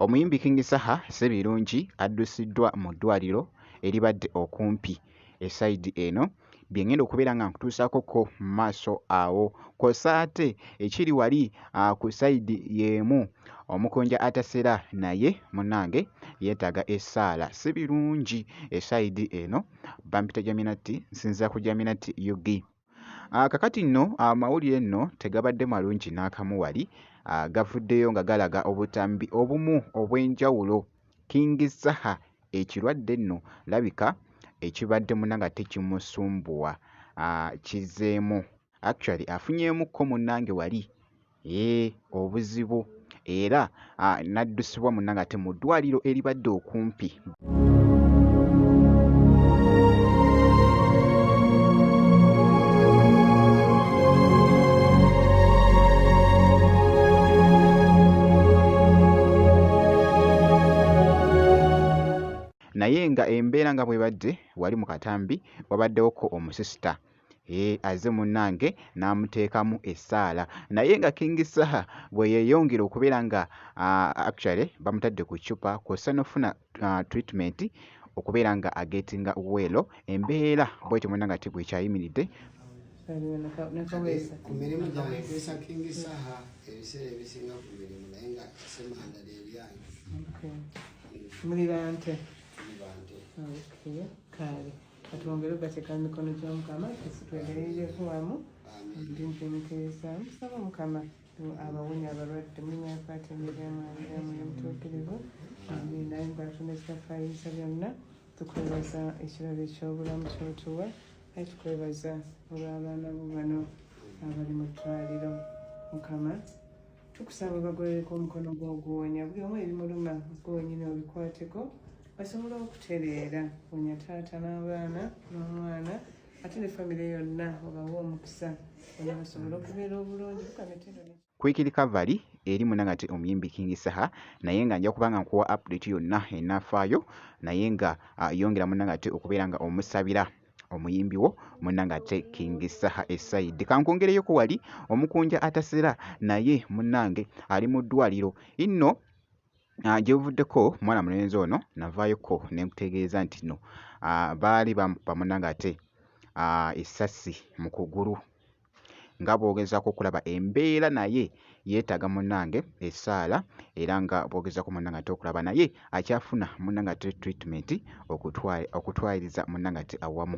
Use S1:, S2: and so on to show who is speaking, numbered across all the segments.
S1: Omuyimbi King Saha Ssebirungi addusiddwa mu ddwaaliro eribadde okumpi e sayidi eno bye ngenda okubeera nga nkutuusaako ko mu maaso awo kw'ossa ate ekiri wali ku sayidi y'emu omukunja atasera naye munnange yeetaaga essaala si birungi esayidi eno bampita jaminatti nsinzira ku jaminatti ug Ah, kakati nno amawulire ah, nno tegabadde malungi n'akamu wali ah, gavuddeyo nga galaga obutambi obumu obw'enjawulo King Saha ekirwadde nno labika ekibadde munanga tekimusumbuwa kizeemu actually afunyeemukko munnange wali Eeh obuzibu era ah, naddusibwa munnange ate mu ddwaliro eribadde okumpi. naye nga embeera nga bwebadde wali mu katambi wabaddewo ko omusisita Eeh azze munnange n'amuteekamu essaala naye nga King Saha bwe yeeyongera okubeera nga ah, actually bamutadde ku ccupa kw'ossa n'okufuna ah, treatment okubeera nga agetinga weelo embeera bwetyo muna nga tigwe kyayimiridde
S2: ku mirimu gyange kwesa King Saha ebiseera ebisinga ku mirimu naye nga semanda lyeryange muli bante muli
S3: bante kale katwongere okugateeka mu mikono gy'omukama tusi twegerereku wamu ndinze mukeesa musaba omukama abawonya abalwadde mulinya yakwata emiremwamulamuyo mutuukirivu naye mbatuna ekitafayisa byonna tukwebaza ekirabo eky'obulamu kyotuwa naye tukwebaza olw'abaana bo bano abali mu ddwaliro mukama tukusaba bagolereko omukono gw'oguwonya buli omu ebimuluma gwenyini obikwateko basobole okutereera wonya taata n'abaana n'omwana ate ne famire yonna obawa omukisa ona basobole okubeera obulungi kukamitendo kwikiri
S1: kavari eri munangate omuyimbi king saha naye nga nja kubanga nkuwa update yonna enafaayo naye nga ah, yongera munangate okubeera nga omusabira omuyimbi wo munange ate king saha esaidi kankwongereyoko wali omukunja atasera naye munange ali mu ddwaliro inno ah, gyebuvuddeko mwana mulenzi ono navaayoko nemutegeeza nti no ah, baali bamukuba munange ate ah, esasi mu kugulu nga bw'ogezaako okulaba embeera naye yeetaaga munnange essaala era nga bw'ogezaako munnange ate okulaba naye akyafuna munnange ate treatment okutwaliriza munnange ate awamu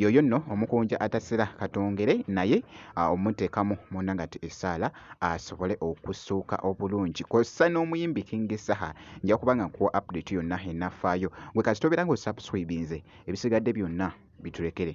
S1: yoyo nno omukunja atasera katongere naye omuteekamu munda nga ti esaala asobole okusuuka obulungi kossa n'omuyimbi king saha nja kuba nga nkuwa update yonna enafaayo gwe kasita obeera nga osubscribinze ebisigadde byonna biturekere